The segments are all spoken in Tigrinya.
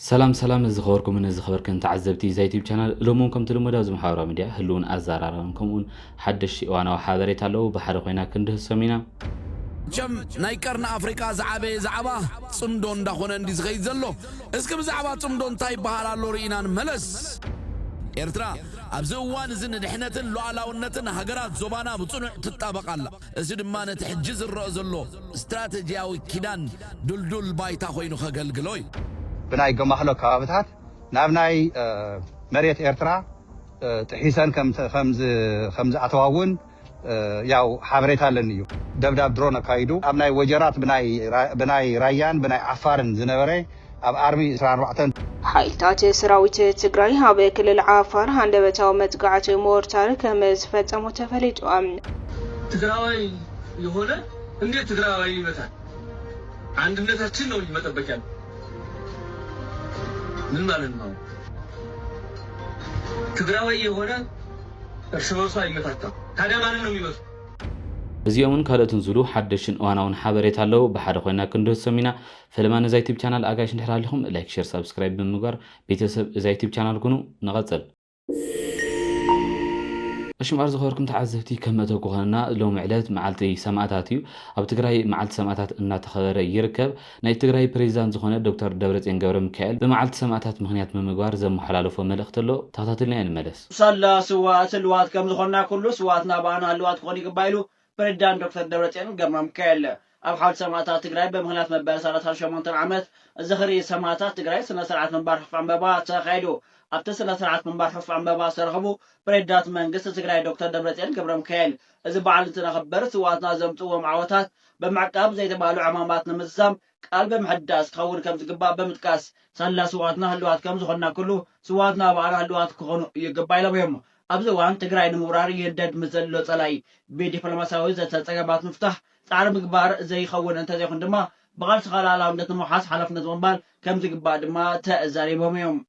ሰላም ሰላም ዝኸበርኩምን ዝኸበርክን ተዓዘብቲ እዛ ዩቲብ ቻናል እሎም እውን ከምቲ ልሙድ ኣብዚ ማሕበራዊ ሚድያ ህልውን ኣዘራራብን ከምኡውን ሓደሽቲ እዋናዊ ሓበሬታ ኣለዉ ብሓደ ኮይና ክንድህሶም ኢና መቸም ናይ ቀርኒ ኣፍሪቃ ዝዓበየ ዛዕባ ጽምዶ እንዳኾነ እንዲ ዝኸይድ ዘሎ እስኪ ብዛዕባ ጽምዶ እንታይ ይበሃል ኣሎ ርኢና ንመለስ። ኤርትራ ኣብዚ እዋን እዚ ንድሕነትን ሉኣላውነትን ሃገራት ዞባና ብጽኑዕ ትጣበቕ ኣላ። እዚ ድማ ነቲ ሕጂ ዝረኣ ዘሎ ስትራተጂያዊ ኪዳን ድልዱል ባይታ ኮይኑ ከገልግሎ እዩ። ብናይ ገማህሎ ከባብታት ናብ ናይ መሬት ኤርትራ ጥሒሰን ከም ዝኣተዋ እውን ያው ሓበሬታ ኣለኒ እዩ። ደብዳብ ድሮን ኣካይዱ ኣብ ናይ ወጀራት ብናይ ራያን ብናይ ዓፋርን ዝነበረ ኣብ ኣርሚ ዕስራን ኣርባዕተን። ሓይልታት ሰራዊት ትግራይ ኣብ ክልል ዓፋር ሃንደበታዊ መጥቃዕቲ ሞርታር ከም ዝፈፀሙ ተፈሊጡ። ትግራዋይ የሆነ እንዴት ትግራዋይን ይመታል አንድነታችን ነው እንጂ መጠበቅ ያለብን ምን ማለት ነው አሁን ትግራዋይ የሆነ እርስ በርሱ አይመታታም ታዲያ ማንን ነው የሚመቱ። እዚኦምን ካልኦትን ዝብሉ ሓደሽትን እዋናውን ሓበሬታ ኣለው ብሓደ ኮይና ክንድህሶም ኢና። ፈለማ ነዛ ዩቱብ ቻናል ኣጋይሽ እንድሕር ሃሊኹም ላይክ ሸር ሳብስክራይብ ብምግባር ቤተሰብ እዛ ዩቱብ ቻናል ኩኑ ንቐጽል። እሺ እምበኣር ዝኸበርኩም ተዓዘብቲ ከም መእተዊ ክኾነና ሎሚ ዕለት መዓልቲ ሰማእታት እዩ። ኣብ ትግራይ መዓልቲ ሰማእታት እናተኸበረ ይርከብ። ናይ ትግራይ ፕሬዚዳንት ዝኾነ ዶክተር ደብረፅዮን ገብረሚካኤል ብመዓልቲ ሰማእታት ምኽንያት ብምግባር ዘመሓላለፎ መልእኽቲ ኣሎ። ተኸታቲልናዮ ንመለስ። ሳላ ስውኣት ህልዋት ከምዝኾንና ኩሉ ስውኣትና ብኣና ህልዋት ክኾኑ ይግባእ ኢሉ ፕሬዚዳንት ዶክተር ደብረፅዮን ገብረሚካኤል ኣብ ሓውልቲ ሰማእታት ትግራይ ብምኽንያት መበል ሰላሳን ሸሞንተን ዓመት ዝኽሪ ሰማእታት ትግራይ ስነ ስርዓት ምንባር ሑፍ ዕምበባ ተኻይዱ። ኣብቲ ስነ ስርዓት ምንባር ሑፍ ዕምበባ ዝተረኸቡ ፕሬዚዳንት መንግስቲ ትግራይ ዶክተር ደብረፅዮን ገብረሚካኤል እዚ በዓል እንትነኽብር ስውኣትና ዘምፅእዎም ዓወታት ብምዕቃብ ዘይተባህሉ ዕማማት ንምዝዛም ቃል ብምሕዳስ ክኸውን ከም ዝግባእ ብምጥቃስ፣ ሳላ ስውኣትና ህልዋት ከም ዝኾንና ኩሉ፣ ስውኣትና ኣባዕላ ህልዋት ክኾኑ ይግባእ ኢሎም እዮም። ኣብዚ እዋን ትግራይ ንምውራር ይህደድ ምስ ዘሎ ፀላኢ ብዲፕሎማሲያዊ ዘተ ፀገማት ምፍታሕ ፃዕሪ ምግባር ዘይኸውን እንተዘይኹን ድማ ብቓልስኻ ልኣላውነት ንምውሓስ ሓላፍነት ምቕባል ከም ዝግባእ ድማ ተዛሪቦም እዮም።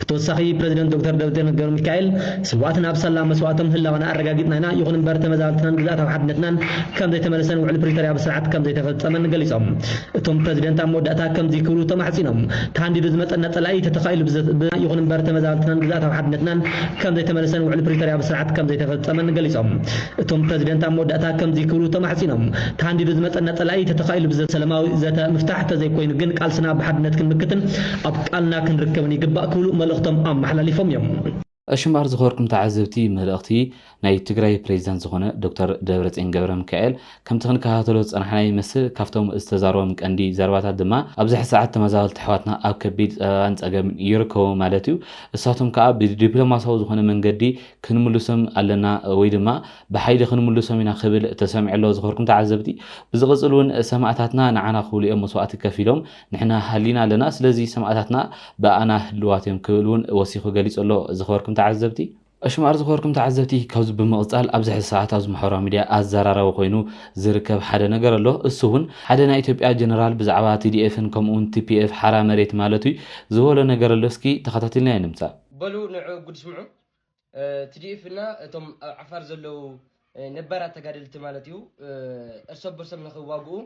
ብተወሳኺ ፕረዚደንት ዶክተር ደብረጽዮን ገብረሚካኤል፣ ስውኣትና ኣብ ሳላ መስዋእቶም ህላወና ኣረጋጊጽና ኢና፣ ይኹን እምበር ተመዛበልትናን ግዝኣታዊ ሓድነትናን ከምዘይተመለሰን ውዕሊ ፕሪቶርያ ብስርዓት ከምዘይተፈጸመን ገሊጾም። እቶም ፕረዚደንት ኣብ መወዳእታ ከምዚ ክብሉ ተማሕጺኖም፣ ተሃንዲዱ ዝመጸና ጸላኢ ተተኻኢሉ ብዘ ይኹን እምበር ተመዛበልትናን ግዝኣታዊ ሓድነትናን ከምዘይተመለሰን ውዕሊ ፕሪቶርያ ብስርዓት ከምዘይተፈጸመን ገሊጾም። እቶም ፕረዚደንት ኣብ መወዳእታ ከምዚ ክብሉ ተማሕጺኖም፣ ተሃንዲዱ ዝመጸና ጸላኢ ተተኻኢሉ ብዘ ሰለማዊ ዘተ ምፍታሕ ተዘይኮይኑ ግን ቃልስና ብሓድነት ክንምክትን፣ ኣብ ቃልና ክንርከብን ይግባእ ክብሉ መልእኽቶም ኣመሓላሊፎም እዮም። ሽምባር ዝኸበርኩም ተዓዘብቲ መልእኽቲ ናይ ትግራይ ፕሬዚዳንት ዝኾነ ዶክተር ደብረፅዮን ገብረሚካኤል ከምቲ ክንከታተሎ ዝፀናሕና ይመስል ካብቶም ዝተዛረቦም ቀንዲ ዘረባታት ድማ ኣብዝሐ ሰዓት ተመዛበልቲ ኣሕዋትና ኣብ ከቢድ ፀበባን ፀገምን ይርከቡ ማለት እዩ እሳቶም ከዓ ብዲፕሎማሳዊ ዝኾነ መንገዲ ክንምልሶም ኣለና ወይ ድማ ብሓይሊ ክንምልሶም ኢና ክብል ተሰሚዑ ኣሎ ዝኸበርኩም ተዓዘብቲ ብዝቕፅል እውን ሰማእታትና ንዓና ክብሉ እዮም መስዋእቲ ከፊሎም ንሕና ሃሊና ኣለና፣ ስለዚ ሰማእታትና ብኣና ህልዋት እዮም ክብል እውን ወሲኹ ገሊጹ ኣሎ። ዝኸበርኩም ተዓዘብቲ! ኣሽማር ዝኸበርኩም ተዓዘብቲ ካብዚ ብምቕጻል ኣብዚ ሕዚ ሰዓት ኣብዚ ማሕበራዊ ሚድያ ኣዘራራቢ ኮይኑ ዝርከብ ሓደ ነገር ኣሎ እሱ እውን ሓደ ናይ ኢትዮጵያ ጀነራል ብዛዕባ TDF ን ከምኡ እውን TPF ሓራ መሬት ማለት እዩ ዝበሎ ነገር ኣሎ እስኪ ተኸታቲልናዮ ንምጻእ። በሉ ንዑ ጉድ ስምዑ ትዲኤፍ እና እቶም ኣብ ዓፋር ዘለዉ ነባራት ተጋደልቲ ማለት እዩ እርሰ በርሶም ንክዋግኡ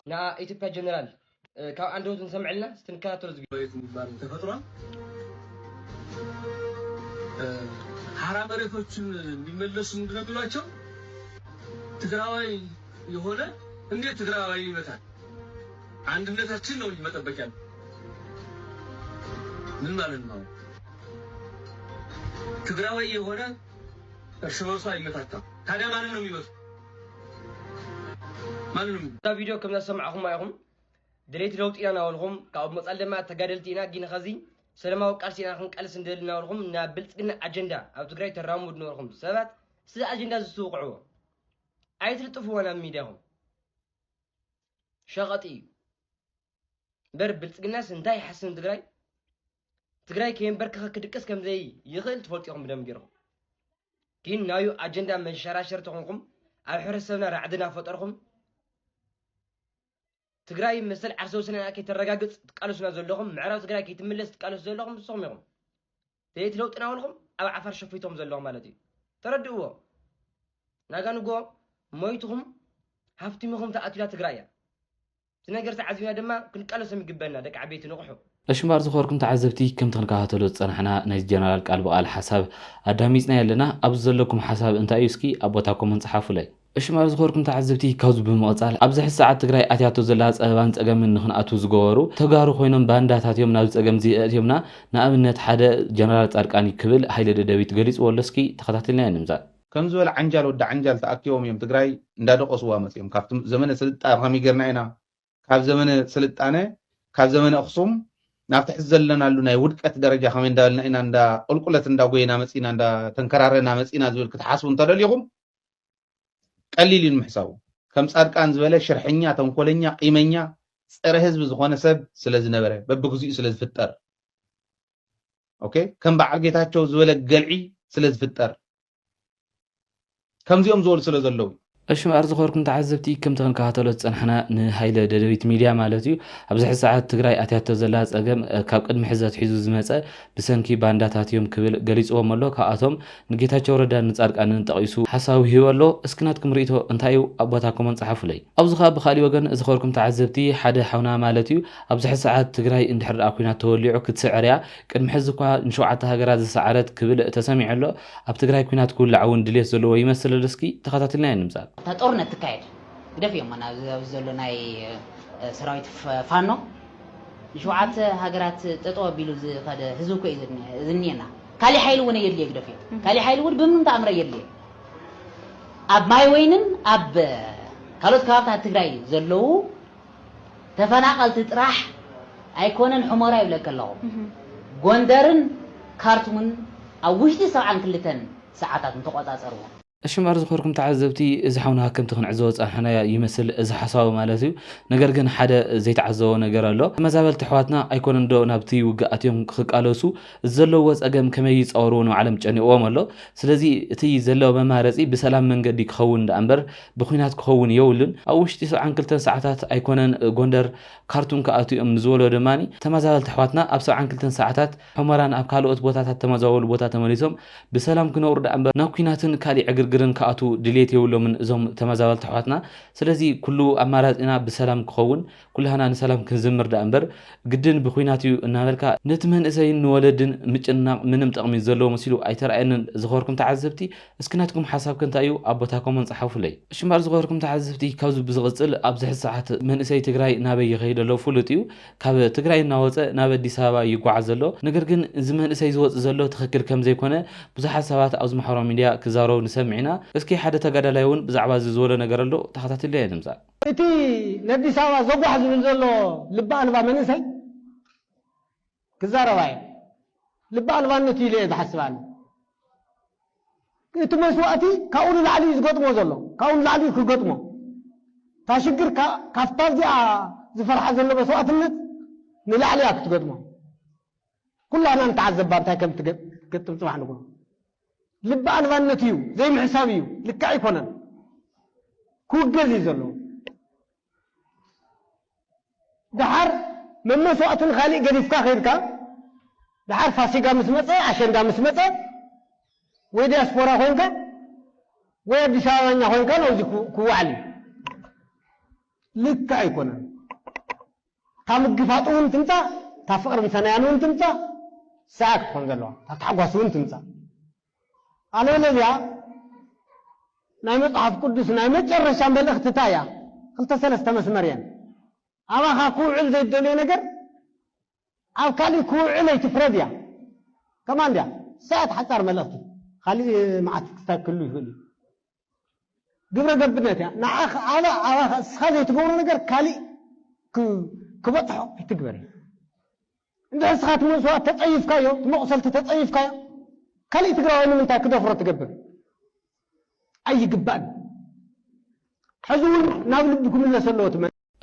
ንኣ ኢትዮጵያ ጀነራል ካብ ኣንደበቱ ንሰምዐልና ስትንከታተሎ ዝግ ዝባል ተፈጥሯል። ሀራ መሬቶችን እንዲመለሱ ምንድን ነው የሚሏቸው? ትግራዋይ የሆነ እንዴት ትግራዋይ ይመታል? አንድነታችን ነው እንጂ መጠበቅ ያለ ምን ማለት ነው? ትግራዋይ የሆነ እርስ በርሱ ኣይመታታም ታዲያ ማንን ነው የሚመቱት? ማንን ነው የሚመቱት? እዛ ቪድዮ ከምዛ ዝሰማዕኹማ ኢኹም ደለይቲ ለውጢ ኢና እናበልኹም ካብኡ ብመጻል ድማ ተጋደልቲ ኢና ግን ኸዚ ሰለማዊ ቃልሲ ኢና ክንቀልስ ንደሊ እናበልኹም ናብ ብልፅግና ኣጀንዳ ኣብ ትግራይ ተራምዱ ነበርኹም ሰባት ስዚ ኣጀንዳ ዝትውቕዕዎ ኣይትልጥፍዎ ናብ ሚድያኹም ሸቐጢ እዩ እምበር ብልፅግናስ እንታይ ይሓስን ትግራይ ትግራይ ከየንበርከኸ ክድቅስ ከምዘይ ይኽእል ትፈልጡ ኢኹም ብደም ገይርኹም ግን ናዩ ኣጀንዳ መንሸራሸር ተኾንኩም ኣብ ሕብረተሰብና ራዕዲ እናፈጠርኩም ትግራይ መሰል ዓርሰ ውስንና ከይተረጋግፅ ትቃለሱና ዘለኹም ምዕራብ ትግራይ ከይትምለስ ትቃለሱ ዘለኹም ንስኹም ኢኹም ደየት ለውጥና ውልኹም ኣብ ዓፋር ሸፊቶም ዘለኹም ማለት እዩ ተረድእዎ ናጋ ንጎ ሞይትኹም ሃፍቲምኹም ተኣትላ ትግራይ እያ እቲ ነገር ተዓዚብና ድማ ክንቃለሶም ይግበና ደቂ ዓበይቲ ንቕሑ። እሺ እምበኣር ዝኸበርኩም ተዓዘብቲ ከምቲ ክንከታተሎ ዝጸናሕና ናይዚ ጀነራል ቃል ብቓል ሓሳብ ኣዳሚጽናዮ ኣለና ኣብዚ ዘለኩም ሓሳብ እንታይ እዩ እስኪ ኣብ ቦታ ኮመንት ጽሓፉለይ። እሺ እምበኣር ዝኸበርኩም ተዓዘብቲ ካብዚ ብምቕጻል ኣብዚ ሕዚ ሰዓት ትግራይ ኣትያቶ ዘላ ጸበባን ጸገምን ንኽንኣትው ዝገበሩ ተጋሩ ኮይኖም ባንዳታት እዮም ናብዚ ጸገም እዚ ኣእትዮምና ንኣብነት ሓደ ጀነራል ጻድቃን እዩ ክብል ሃይለ ደደቢት ገሊጽዎ ኣሎ እስኪ ተኸታቲልናዮ ንምጻእ ከም ዝበለ ዓንጃል ወዲ ዓንጃል ተኣኪቦም እዮም ትግራይ እንዳደቆስዋ መፅዮም ካብቲ ዘመነ ስልጣ ከመይ ገርና ኢና ካብ ዘመነ ስልጣነ ካብ ዘመነ ኣክሱም ናብቲ ሕዚ ዘለናሉ ናይ ውድቀት ደረጃ ከመይ እንዳበልና ኢና እንዳ ቁልቁለት እንዳጎየና መፂና እንዳተንከራረና መፂና ዝብል ክትሓስቡ እንተደሊኹም ቀሊል እዩ ንምሕሳቡ ከም ፃድቃን ዝበለ ሽርሐኛ ተንኮለኛ ቂመኛ ፀረ ህዝቢ ዝኾነ ሰብ ስለዝነበረ በብግዚኡ ስለዝፍጠር ኦኬ ከም በዓል ጌታቸው ዝበለ ገልዒ ስለ ዝፍጠር ከምዚኦም ዝበሉ ስለ ዘለዉ እሺ ምኣር ዝኾርኩም ተዓዘብቲ ከምቲ ክንከታተሎ ዝፀናሕና ንሃይለ ደደቢት ሚድያ ማለት እዩ ኣብዚ ሕዚ ሰዓት ትግራይ ኣትያቶ ዘላ ፀገም ካብ ቅድሚ ሕዚ ኣትሒዙ ዝመፀ ብሰንኪ ባንዳታት እዮም ክብል ገሊፅዎም ኣሎ ካብኣቶም ንጌታቸው ረዳን ንፃድቃንን ጠቂሱ ሓሳዊ ሂቡ ኣሎ እስኪ ናትኩም ሪኢቶ እንታይ እዩ ኣብ ቦታኩሞን ፀሓፉለይ ኣብዚ ካኣ ብካሊእ ወገን ዝከርኩም ተዓዘብቲ ሓደ ሓውና ማለት እዩ ኣብዚ ሕዚ ሰዓት ትግራይ እንድሕር ዳኣ ኩናት ተወሊዑ ክትስዕር እያ ቅድሚ ሕዚ እኳ ንሸውዓተ ሃገራት ዝሰዓረት ክብል ተሰሚዑ ኣሎ ኣብ ትግራይ ኩናት ክውላዕ እውን ድልየት ዘለዎ ይመስል እስኪ ተካታቲልናዮ ንምፃእ። እታ ጦርነት ትካየድ ግደፍዮም ኣና ኣብዚ ዘሎ ናይ ሰራዊት ፋኖ ንሸውዓተ ሃገራት ጠጠው ኣቢሉ ዝከደ ህዝቢ እኮ እዩ ዝኒሀና። ካሊእ ሓይሊ እውን ኣየድልዮ ህግደፍ እዩ ካሊእ ሓይሊ እውን ብምንም ተኣምር ኣየድልዮ ኣብ ማይ ወይንን ኣብ ካልኦት ከባብታት ትግራይ ዘለዉ ተፈናቀልቲ ጥራሕ ኣይኮነን ሑሞራ ይብለኪ ኣለኹ ጎንደርን ካርቱምን ኣብ ውሽጢ ሰብዓን ክልተን ሰዓታት ምተቆፃፀርዎ እሺ እምበኣር ዝኸርኩም ተዓዘብቲ እዚ ሓውና ከምቲ ክንዕዘቦ ዝጸናሕናዮ ይመስል እዚ ሓሳዊ ማለት እዩ ነገር ግን ሓደ ዘይተዓዘቦ ነገር ኣሎ ተመዛበልቲ ኣሕዋትና ኣይኮነን ዶ ናብቲ ውግእ ኣትዮም ክቃለሱ እዚ ዘለውዎ ጸገም ከመይ ይጻወርዎ ንባዕሎም ጨኒቕዎም ኣሎ ስለዚ እቲ ዘሎ መማረጺ ብሰላም መንገዲ ክኸውን ደኣ እምበር ብኩናት ክኸውን የብሉን ኣብ ውሽጢ ሰብዓን ክልተን ሰዓታት ኣይኮነን ጎንደር ካርቱም ክኣትው እዮም ንዝበሎ ድማ ተመዛበልቲ ኣሕዋትና ኣብ ሰብዓን ክልተን ሰዓታት ሑመራን ኣብ ካልኦት ቦታታት ተመዛበሉ ቦታ ተመሊሶም ብሰላም ክነብሩ ደኣምበር ናብ ኩናትን ካሊእ ዕግርግርን ክኣትዉ ድልየት የብሎምን እዞም ተመዛበልቲ ኣሕዋትና ስለዚ ኩሉ ኣማራጺና ብሰላም ክኸውን ኩላህና ንሰላም ክንዝምር ደኣምበር ግድን ብኩናት እዩ እናበልካ ነቲ መንእሰይን ንወለድን ምጭንናቕ ምንም ጠቕሚ ዘለዎ መሲሉ ኣይተራኣየንን ዝኸበርኩም ተዓዘብቲ እስኪ ናትኩም ሓሳብ ከ እንታይ እዩ ኣብ ቦታ ኮሞን ጸሓፉለይ። እሺ እምበኣር ዝኸበርኩም ተዓዘብቲ ካብዚ ብዝቕጽል ኣብዚ ሕዚ ሰዓት መንእሰይ ትግራይ ናበይ ይኸይድ ኣሎ ፍሉጥ እዩ ካብ ትግራይ እናወፀ ናብ ኣዲስ ኣበባ እዩ ይጓዓዝ ዘሎ። ነገር ግን እዚ መንእሰይ ዝወፅእ ዘሎ ትኽክል ከምዘይኮነ ብዙሓት ሰባት ኣብዚ ማሕበራዊ ሚድያ ክዛረቡ ንሰምዕ ኢና። እስኪ ሓደ ተጋዳላይ እውን ብዛዕባ እዚ ዝበሎ ነገር ኣሎ ተኸታቲልና ኢና ንምፃእ። እቲ ነዲስ ኣበባ ዘጓሕ ዝብል ዘሎ ልቢ ኣልባ መንእሰይ ክዛረብ ኣየ ልቢ ኣልባነቱ ኢለ እየ ዝሓስብ ኣነ። እቲ መስዋእቲ ካብኡ ንላዕሊ እዩ ዝገጥሞ ዘሎ ካብኡ ንላዕሊ እዩ ክገጥሞ እታ ሽግር ካብታ እዚኣ ዝፈርሓ ዘሎ መስዋእትነት ንላዕሊ እያ ክትገጥሞ ኩላህና ንተዓዘባ እንታይ ከም ትገጥም ጽባሕ ንግሆ ልቢ ኣልባነት እዩ ዘይምሕሳብ እዩ ልክዕ ኣይኮነን ክውገዝ እዩ ዘለዎ ደሓር መመሰዋእቲ ንኻሊእ ገዲፍካ ከይድካ ደሓር ፋሲጋ ምስ መጸ ኣሸንዳ ምስ መጸ ወይ ዲያስፖራ ኮይንካ ወይ ኣዲስ ኣበባኛ ኮይንካ ናብዚ ክወዓል እዩ ልክዕ ኣይኮነን እታ ምግፋጥ እውን ትምጻእ እታ ፍቕርን ሰናያን እውን ትምጻእ ሰዓት ክኾን ዘለዋ እታ ታሕጓስ እውን ትምጻእ ሃሌለሉያ ናይ መጽሓፍ ቅዱስ ናይ መጨረሻ መልእኽቲ ታይ እያ ክልተ ሰለስተ መስመር እየን ኣባኻ ክውዕል ዘይትደልዮ ነገር ኣብ ካሊእ ክውዕል ኣይትፍረድ እያ ከማን ድያ ንሳ እያ እቲ ሓጻር መልእኽቲ ካሊእ መዓት ክስታይ ክህሉ ይኽእል እዩ ግብረ ገብነት እያ ንዓኽ ኣባ ኣባኻ እስኻ ዘይትገብሮ ነገር ካልእ ክ ክበጽሖ ኣይትግበሪ እንድሕር እስኻ እቲ መስዋእት ተጸይፍካዮ እቲ መቑሰልቲ ተጸይፍካዮ ካልእ ትግራዋይ ንምንታይ ክደፍሮ ትገብር ኣይግባእን ሕዚ እውን ናብ ልቢ ክምለስ ኣለዎ እቲ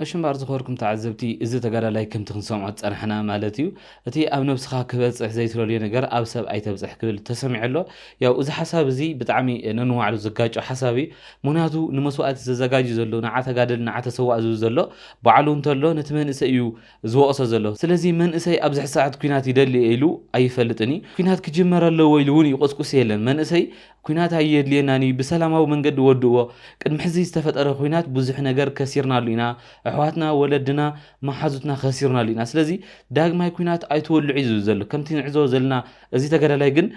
ኣሽንባር ዝኸበርኩም ተዓዘብቲ እዚ ተጋዳላይ ከምቲ ክንሰምዖ ዝጸናሕና ማለት እዩ እቲ ኣብ ነብስኻ ክበጽሕ ዘይትደልዮ ነገር ኣብ ሰብ ኣይተብጽሕ ክብል ተሰሚዑ ኣሎ ያው እዚ ሓሳብ እዚ ብጣዕሚ ነንዋዕሉ ዝጋጮ ሓሳብ እዩ ምክንያቱ ንመስዋእቲ ዘዘጋጁ ዘሎ ንዓ ተጋደል ንዓ ተሰዋእ ዝብል ዘሎ ባዕሉ እንተሎ ነቲ መንእሰይ እዩ ዝወቕሶ ዘሎ። ስለዚ መንእሰይ ኣብዚ ሕዚ ሰዓት ኩናት ይደሊ እየ ኢሉ ኣይፈልጥን እዩ። ኩናት ክጅመር ኣለዎ ኢሉ እውን ይቑስቁስ የለን። መንእሰይ ኩናት ኣየድልየናን እዩ ብሰላማዊ መንገዲ ወድእዎ። ቅድሚ ሕዚ ዝተፈጠረ ኩናት ብዙሕ ነገር ከሲርናሉ ኢና። ኣሕዋትና፣ ወለድና፣ መሓዙትና ከሲርናሉ ኢና። ስለዚ ዳግማይ ኩናት ኣይትወልዑ እዩ ዝብል ዘሎ። ከምቲ ንዕዘቦ ዘለና እዚ ተጋዳላይ ግን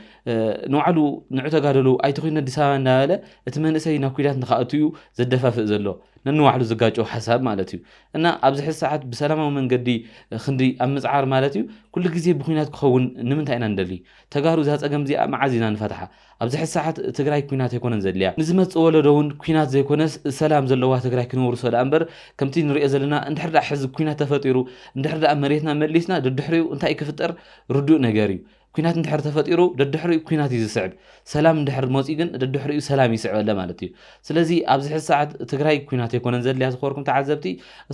ንባዕሉ ንዑ ተጋደሉ ኣይትኹኑ ኣዲስ ኣበባ እንዳበለ እቲ መንእሰይ ናብ ኩናት ንክኣቱ እዩ ዘደፋፍእ ዘሎ። ነንባዕሉ ዝጋጮ ሓሳብ ማለት እዩ። እና ኣብዚ ሕዚ ሰዓት ብሰላማዊ መንገዲ ክንዲ ኣብ ምፅዓር ማለት እዩ ኩሉ ግዜ ብኩናት ክኸውን ንምንታይ ኢና ንደሊ ተጋሩ እዛ ፀገም እዚኣ መዓዝ ኢና ንፈትሓ ኣብዚ ሕዚ ሰዓት ትግራይ ኩናት ኣይኮነን ዘድልያ ንዝመፅእ ወለዶ እውን ኩናት ዘይኮነስ ሰላም ዘለዋ ትግራይ ክነውርሶ ደኣ እምበር ከምቲ ንሪኦ ዘለና እንድሕር ደኣ ሕዚ ኩናት ተፈጢሩ እንድሕር ደኣ መሬትና መሊስና ደድሕሪኡ እንታይ ክፍጠር ርዱእ ነገር እዩ ኲናት እንድሕር ተፈጢሩ ደድሕሪኡ ኲናት እዩ ዝስዕብ፣ ሰላም እንድሕር መፂኡ ግን ደድሕሪኡ ሰላም ይስዕበለ ማለት እዩ። ስለዚ ኣብዚ ሕዚ ሰዓት ትግራይ ኲናት ኣይኮነን ዘድልያ ዝኸበርኩም ተዓዘብቲ፣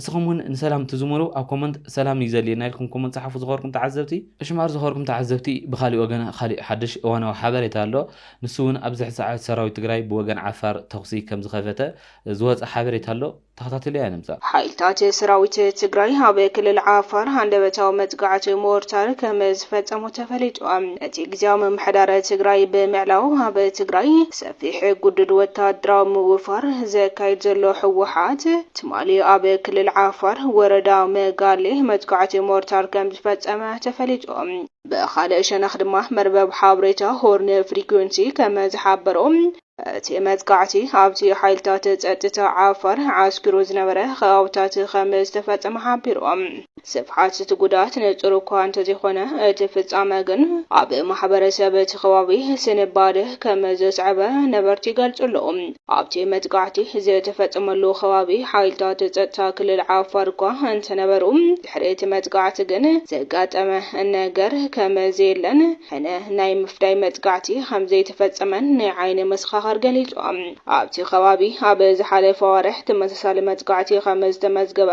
እስኹም እውን ንሰላም እትዝምሩ ኣብ ኮመንት ሰላም እዩ ዘድልየና ኢልኩም ኮመንት ፀሓፉ ዝኸበርኩም ተዓዘብቲ። እሺ እምበኣር ዝኸበርኩም ተዓዘብቲ ብኻሊእ ወገን ኻሊእ ሓዱሽ እዋናዊ ሓበሬታ ኣሎ። ንሱ እውን ኣብዚ ሕዚ ሰዓት ሰራዊት ትግራይ ብወገን ዓፋር ተኹሲ ከምዝኸፈተ ዝወፀ ሓበሬታ ኣሎ። ተኸታቲለያ ንምፃእ። ሓይልታት ሰራዊት ትግራይ ኣብ ክልል ዓፋር ሃንደበታዊ መጥቃዕቲ ሞርታር ከም ዝፈፀሙ ተፈሊጡ። እቲ ግዝያዊ ምምሕዳር ትግራይ ብምዕላው ኣብ ትግራይ ሰፊሕ ግዱድ ወታደራዊ ምውፋር ዘካይድ ዘሎ ህወሓት ትማሊ ኣብ ክልል ዓፋር ወረዳ መጋሌ መጥቃዕቲ ሞርታር ከም ዝፈፀመ ተፈሊጡ። ብኻልእ ሸነኽ ድማ መርበብ ሓበሬታ ሆርን ፍሪኩንሲ ከም ዝሓበሮ፣ እቲ መጥቃዕቲ ኣብቲ ሓይልታት ጸጥታ ዓፋር ዓስኪሩ ዝነበረ ከባብታት ከም ዝተፈጸመ ሓቢሩ። ስፍሓት እቲ ጉድኣት ንጹር እኳ እንተዘይኮነ፣ እቲ ፍጻመ ግን ኣብ ማሕበረሰብ እቲ ከባቢ ስንባደ ከም ዘስዐበ ነበርቲ ይገልጹ ኣለዉ። ኣብቲ መጥቃዕቲ ዝተፈጸመሉ ከባቢ ሓይልታት ጸጥታ ክልል ዓፋር እኳ እንተነበሩ፣ ድሕሪ እቲ መጥቃዕቲ ግን ዘጋጠመ ነገር ከም ዘየለን ሕነ ናይ ምፍዳይ መጥቃዕቲ ከም ዘይተፈጸመን ናይ ዓይኒ መሰኻኽር ገሊጾም። ኣብቲ ከባቢ ኣብ ዝሓለፈ ኣዋርሕ ተመሳሳሊ መጥቃዕቲ ከም ዝተመዝገበ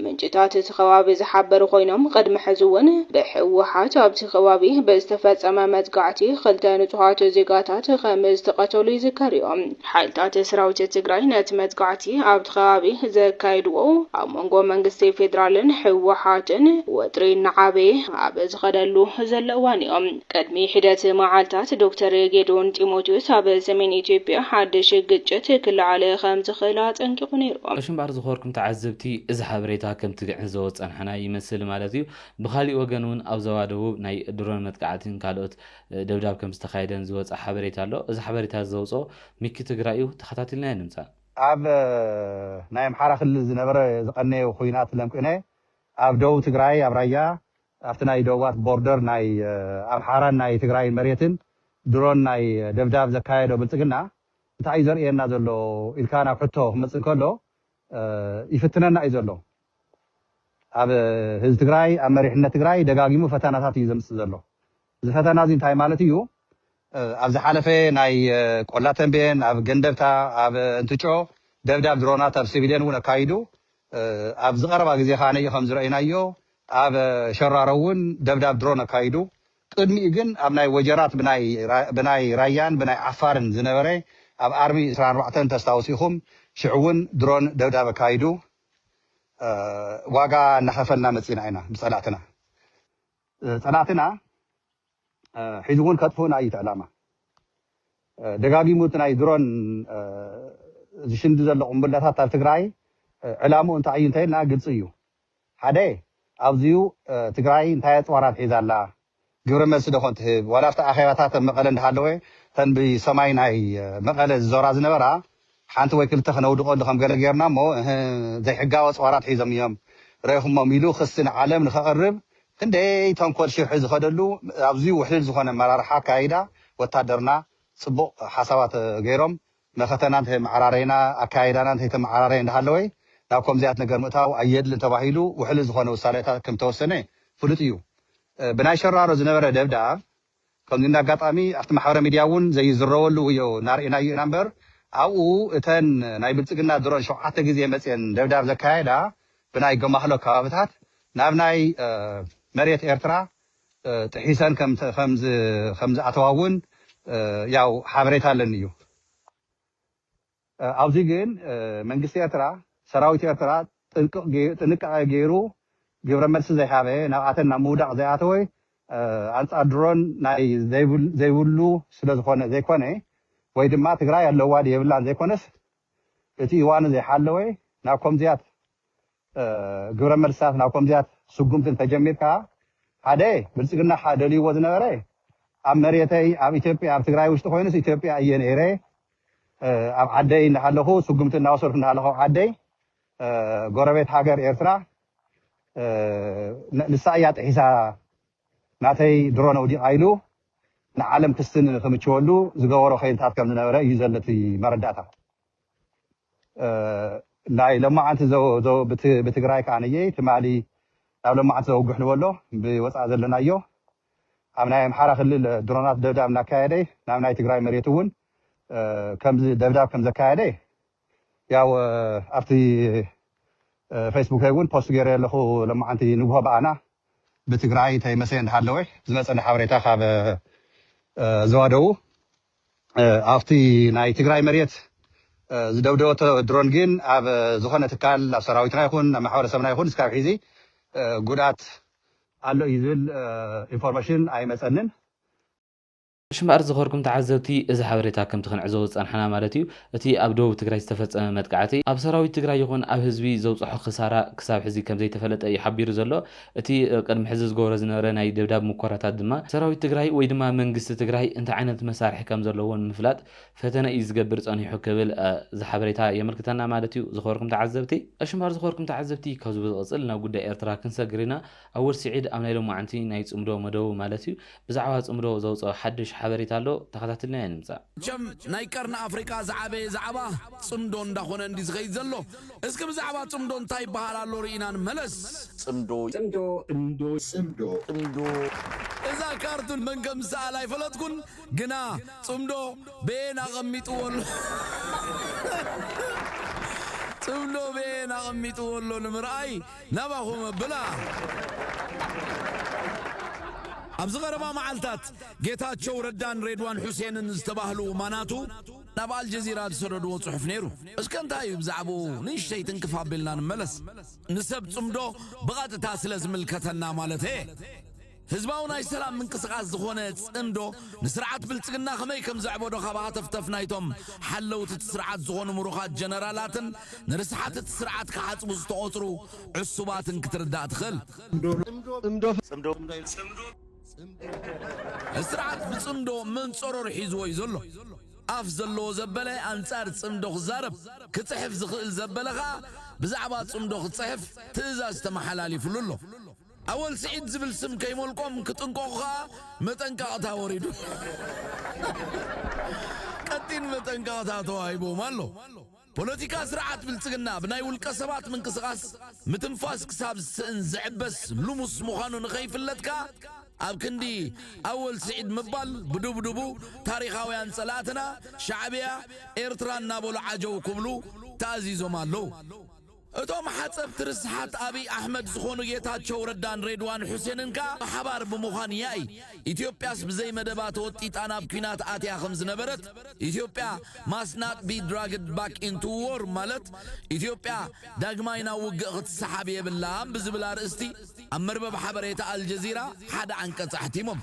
ምንጭታት እቲ ከባቢ ዝሓበሩ ኮይኖም ቅድሚ ሕዚ እውን ብህወሓት ኣብቲ ከባቢ ብዝተፈጸመ መጥቃዕቲ ክልተ ንጹሃት ዜጋታት ከም ዝተቐተሉ ይዝከር እዩ። ሓይልታት ሰራዊት ትግራይ ነቲ መጥቃዕቲ ኣብቲ ከባቢ ዘካየድዎ ኣብ መንጎ መንግስቲ ፌደራልን ህወሓትን ወጥሪ እናዓበየ ኣብ ዝኸደሉ ዘሎ እዋን እዩ። ቅድሚ ሒደት መዓልታት ዶክተር ጌዲዮን ጢሞቴዎስ ኣብ ሰሜን ኢትዮጵያ ሓድሽ ግጭት ክለዓል ከም ዝኽእል ኣጠንቂቑ ነይሩ። ቀሺ እምበኣር ዝኸበርኩም ተዓዘብቲ እዚ ሓበሬታ ከምቲ ክንዕዘቦ ዝጸናሕና ይመስል ማለት እዩ። ብኻሊእ ወገን እውን ኣብ ዞባ ደቡብ ናይ ድሮን መጥቃዕቲን ካልኦት ደብዳብ ከም ዝተኻየደን ዝወጸ ሓበሬታ ኣሎ። እዚ ሓበሬታ እዚ ዘውጽኦ ሚኪ ትግራይ እዩ። ተኸታቲልናዮ ንምጻእ። ኣብ ናይ ኣምሓራ ክልል ዝነበረ ዝቐነየ ኹናት ለምቅነ ኣብ ደቡብ ትግራይ ኣብ ራያ ኣብቲ ናይ ደቡባት ቦርደር ናይ ኣምሓራን ናይ ትግራይን መሬትን ድሮን ናይ ደብዳብ ዘካየዶ ብልጽግና እንታይ እዩ ዘርእየና ዘሎ ኢልካ ናብ ሕቶ ክመጽእ ከሎ ይፍትነና እዩ ዘሎ ኣብ ህዝቢ ትግራይ ኣብ መሪሕነት ትግራይ ደጋጊሙ ፈተናታት እዩ ዘምጽእ ዘሎ እዚ ፈተና እዚ እንታይ ማለት እዩ? ኣብ ዝሓለፈ ናይ ቆላ ተምቤን፣ ኣብ ገንደብታ፣ ኣብ እንትጮ ደብዳብ ድሮናት ኣብ ሲቪልየን እውን ኣካይዱ። ኣብዚ ቀረባ ግዜ ከኣ ከም ዝረኣናዮ ኣብ ሸራሮ እውን ደብዳብ ድሮን ኣካይዱ። ቅድሚኡ ግን ኣብ ናይ ወጀራት ብናይ ራያን ብናይ ዓፋርን ዝነበረ ኣብ ኣርሚ ዕስራን ኣርባዕተን ተስታውሱ ኢኹም ሽዑ እውን ድሮን ደብዳብ ኣካይዱ። ዋጋ እናኸፈልና መፂእና ኢና ብፀላእትና። ጸላእትና ሕዚ እውን ከጥፍኡና እዩ እቲ ዕላማ። ደጋጊሙ እቲ ናይ ድሮን ዝሽንዲ ዘሎ ቁምብላታት ኣብ ትግራይ ዕላምኡ እንታይ እዩ እንተይልና ግልፂ እዩ። ሓደ ኣብዚዩ ትግራይ እንታይ ኣፅዋራት ሒዛ ኣላ፣ ግብረ መልሲ ዶ ከንትህብ ዋላ ኣብቲ ኣኼባታት ኣብ መቐለ እንዳሃለወ እተን ብሰማይ ናይ መቐለ ዝዞራ ዝነበራ ሓንቲ ወይ ክልተ ክነውድቐሉ ከም ገለ ጌርና እሞ እህ ዘይሕጋዊ ኣጽዋራት ሒዞም እዮም ረኢኹሞም ኢሉ ክሲ ንዓለም ንከቕርብ ክንደይ ተንኮል ሽርሒ ዝኸደሉ ኣብዚ ውሕልል ዝኾነ ኣመራርሓ ኣካያይዳ ወታደርና ጽቡቕ ሓሳባት ገይሮም መኸተና እንተይመዓራረይና ኣካያይዳና እንተይተመዓራረየ እንዳሃለወ ናብ ከምዚኣት ነገር ምእታው ኣየድልን ተባሂሉ ውሕልል ዝኾነ ውሳኔታት ከምተወሰነ ፍሉጥ እዩ ብናይ ሸራሮ ዝነበረ ደብዳብ ከምዚ እንዳ ኣጋጣሚ ኣብቲ ማሕበረ ሚድያ እውን ዘይዝረበሉ እዮ እናርኤናዮ ኢና እምበር ኣብኡ እተን ናይ ብልፅግና ድሮን ሸውዓተ ግዜ መፅየን ደብዳብ ዘካየዳ ብናይ ገማህሎ ከባብታት ናብ ናይ መሬት ኤርትራ ጥሒሰን ከምዝኣተዋ እውን ያው ሓበሬታ ኣለኒ እዩ። ኣብዚ ግን መንግስቲ ኤርትራ ሰራዊት ኤርትራ ጥንቅቕ ጥንቃቐ ገይሩ ግብረ መልሲ ዘይሃበ ናብኣተን ናብ ምውዳቕ ዘይኣተወ ኣንጻር ድሮን ናይ ዘይብሉ ስለዝኾነ ዘይኮነ ወይ ድማ ትግራይ ኣለዋ ድዩ የብላን ዘይኮነስ እቲ እዋኑ ዘይሓለወ ናብ ኮምዚያት ግብረ መልስታት ናብ ከምዚያት ስጉምቲ እንተጀሚርካ ሓደ ብልፅግና እካ ደልይዎ ዝነበረ ኣብ መሬተይ ኣብ ኢትዮጵያ ኣብ ትግራይ ውሽጢ ኮይኑስ ኢትዮጵያ እየ ነይረ ኣብ ዓደይ እናሃለኹ ስጉምቲ እናወሰድኩ እናሃለኹ ኣብ ዓደይ ጎረቤት ሃገር ኤርትራ ንሳ እያ ጥሒሳ ናተይ ድሮን ኣውዲቓ ኢሉ ንዓለም ክስትን ክምችወሉ ዝገበሮ ከይልታት ከም ዝነበረ እዩ ዘሎ እቲ መረዳእታ። ናይ ሎማዓንቲ ብትግራይ ካኣ ትማሊ ናብ ሎማዓንቲ ዘወግሕ ንበሎ ብወፃኢ ዘለናዮ ኣብ ናይ ኣምሓራ ክልል ድሮናት ደብዳብ እናካየደ ናብ ናይ ትግራይ መሬት እውን ከምዚ ደብዳብ ከም ዘካየደ ያው ኣብቲ ፌስቡከይ እውን ፖስት ገይረ ኣለኹ ሎማዓንቲ ንግሆ ብኣና ብትግራይ ተይመሰየ እንዳሃለወ ዝመፀኒ ሓበሬታ ካብ ዘዋደዉ ኣብቲ ናይ ትግራይ መሬት ዝደብደበቶ ድሮን ግን ኣብ ዝኾነ ትካል ኣብ ሰራዊትና ይኹን ኣብ ማሕበረሰብና ይኹን እስካብ ሒዚ ጉድኣት ኣሎ እዩ ዝብል ኢንፎርመሽን ኣይመፀንን። ሽምኣር ዝኸርኩም ተዓዘብቲ እዚ ሓበሬታ ከምቲ ክንዕዘቦ ዝፀናሕና ማለት እዩ እቲ ኣብ ደቡብ ትግራይ ዝተፈፀመ መጥቃዕቲ ኣብ ሰራዊት ትግራይ ይኹን ኣብ ህዝቢ ዘብፀሖ ክሳራ ክሳብ ሕዚ ከምዘይተፈለጠ እዩ ሓቢሩ ዘሎ። እቲ ቅድሚ ሕዚ ዝገብሮ ዝነበረ ናይ ደብዳብ ሙከራታት ድማ ሰራዊት ትግራይ ወይ ድማ መንግስቲ ትግራይ እንታይ ዓይነት መሳርሒ ከም ዘለዎ ንምፍላጥ ፈተነ እዩ ዝገብር ፀኒሑ ክብል እዚ ሓበሬታ የመልክተና ማለት እዩ ዝኸበርኩም ተዓዘብቲ። እሺ እምበኣር ዝኸበርኩም ተዓዘብቲ ካብዚ ብዝቕፅል ናብ ጉዳይ ኤርትራ ክንሰግር ኢና። ኣወል ስዒድ ኣብ ናይ ሎማዕንቲ ናይ ፅምዶ መደቡ ማለት እዩ ብዛዕባ ጽምዶ ዘውጽኦ ሓድሽ ሓበሬታ ኣሎ ተኸታትልናዮ ንምጻእ። መቸም ናይ ቀርኒ ኣፍሪቃ ዝዓበየ ዛዕባ ጽምዶ እንዳኾነ እንድዩ ዝኸይድ ዘሎ። እስኪ ብዛዕባ ጽምዶ እንታይ ይበሃል ኣሎ ርኢና ንመለስ። ጽምዶ። ጽምዶ። ጽምዶ። ጽምዶ። ጽምዶ። እዛ ካርቱን መን ከም ዝሰኣላ ኣይፈለጥኩን ግና ጽምዶ በየን ኣቐሚጥዎ ኣሎ ጽምዶ በየን ኣቐሚጥዎ ኣሎ ንምርኣይ ናባኹም ኣብላ። ኣብዚ ቀረባ መዓልታት ጌታቸው ረዳን ሬድዋን ሑሴንን ዝተባህሉ ማናቱ ናብ ኣልጀዚራ ዝሰደድዎ ጽሑፍ ነይሩ። እስከ እንታይ እዩ ብዛዕብኡ ንእሽተይ ትንክፍ ኣቢልና ንመለስ። ንሰብ ጽምዶ ብቐጥታ ስለ ዝምልከተና ማለተይ'የ። ህዝባዊ ናይ ሰላም ምንቅስቓስ ዝኾነ ጽምዶ ንስርዓት ብልጽግና ከመይ ከም ዘዕበዶ ካብ ሃተፍተፍ ናይቶም ሓለውቲ እቲ ስርዓት ዝኾኑ ምሩኻት ጀነራላትን ንርስሓት እቲ ስርዓት ክሓጽቡ ዝተቖጽሩ ዕሱባትን ክትርዳእ ትኽእል። ጽምዶ እቲ ስርዓት ብጽምዶ መንጸሮር ሒዝዎ እዩ ዘሎ። ኣፍ ዘለዎ ዘበለ ኣንጻር ጽምዶ ክዛረብ፣ ክጽሕፍ ዝኽእል ዘበለ ከኣ ብዛዕባ ጽምዶ ክጽሕፍ ትእዛዝ ተመሓላሊፍሉ ኣሎ። ኣወል ስዒድ ዝብል ስም ከይሞልቆም ክጥንቀቑ ከኣ መጠንቀቕታ ወሪዱ ቀጢን መጠንቀቕታ ተዋሂቦም ኣሎ። ፖለቲካ ስርዓት ብልጽግና ብናይ ውልቀ ሰባት ምንቅስቓስ ምትንፋስ ክሳብ ዝስእን ዝዕበስ ልሙስ ምዃኑ ንኸይፍለጥ ከኣ ኣብ ክንዲ ኣወል ስዒድ ምባል ብድብድቡ ታሪኻውያን ጸላእትና ሻዕብያ ኤርትራ እናበሉ ዓጀው ክብሉ ተኣዚዞም ኣለዉ። እቶም ሓጸብቲ ርስሓት ኣብይ ኣሕመድ ዝኾኑ ጌታቸው ረዳን ሬድዋን ሑሴንን ከኣ ብሓባር ብምዃን ያኢ ኢትዮጵያስ ብዘይ መደባ ተወጢጣ ናብ ኲናት ኣትያ ከም ዝነበረት ኢትዮጵያ ማስ ናት ቢ ድራግድ ባክ ኢንቱ ዎር ማለት ኢትዮጵያ ዳግማይ ናብ ውግእ ክትሰሓብ የብላን ብዝብል ኣርእስቲ ኣብ መርበብ ሓበሬታ ኣልጀዚራ ሓደ ዓንቀጽ ኣሕቲሞም።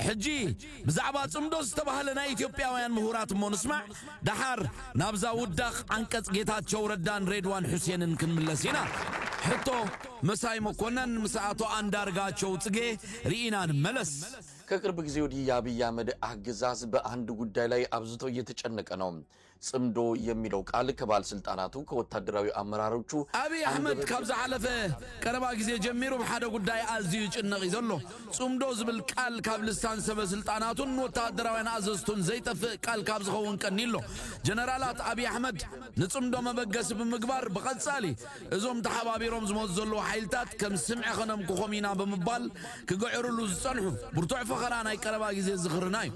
ሕጂ ብዛዕባ ጽምዶ ዝተባህለ ናይ ኢትዮጵያውያን ምሁራት እሞ ንስማዕ። ደሓር ናብዛ ውዳቕ ዓንቀጽ ጌታቸው ረዳን ሬድዋን ሑሴንን ክንምለስ ኢና። ሕቶ፣ መሳይ መኮነን ምስ ኣቶ ኣንዳርጋቸው ጽጌ ርኢና ንመለስ። ከቅርብ ጊዜ ወዲህ የአብይ አህመድ አገዛዝ በአንድ ጉዳይ ላይ አብዝቶ እየተጨነቀ ነው። ጽምዶ የሚለው ቃል ከባለስልጣናቱ ከወታደራዊ አመራሮቹ አብይ አህመድ ካብ ዝሓለፈ ቀረባ ግዜ ጀሚሩ ብሓደ ጉዳይ ኣዝዩ ይጭነቕ እዩ ዘሎ። ጽምዶ ዝብል ቃል ካብ ልሳን ሰበ ስልጣናቱን ወተሃደራውያን ኣዘዝቱን ዘይጠፍእ ቃል ካብ ዝኸውን ቀኒ'ሎ። ጀነራላት ኣብይ ኣሕመድ ንጽምዶ መበገሲ ብምግባር ብቐጻሊ እዞም ተሓባቢሮም ዝመጹ ዘለዉ ሓይልታት ከም ስምዒ ከነምክኾም ኢና ብምባል ክግዕርሉ ዝጸንሑ ብርቱዕ ፈኸራ ናይ ቀረባ ግዜ ዝኽርና'ዩ።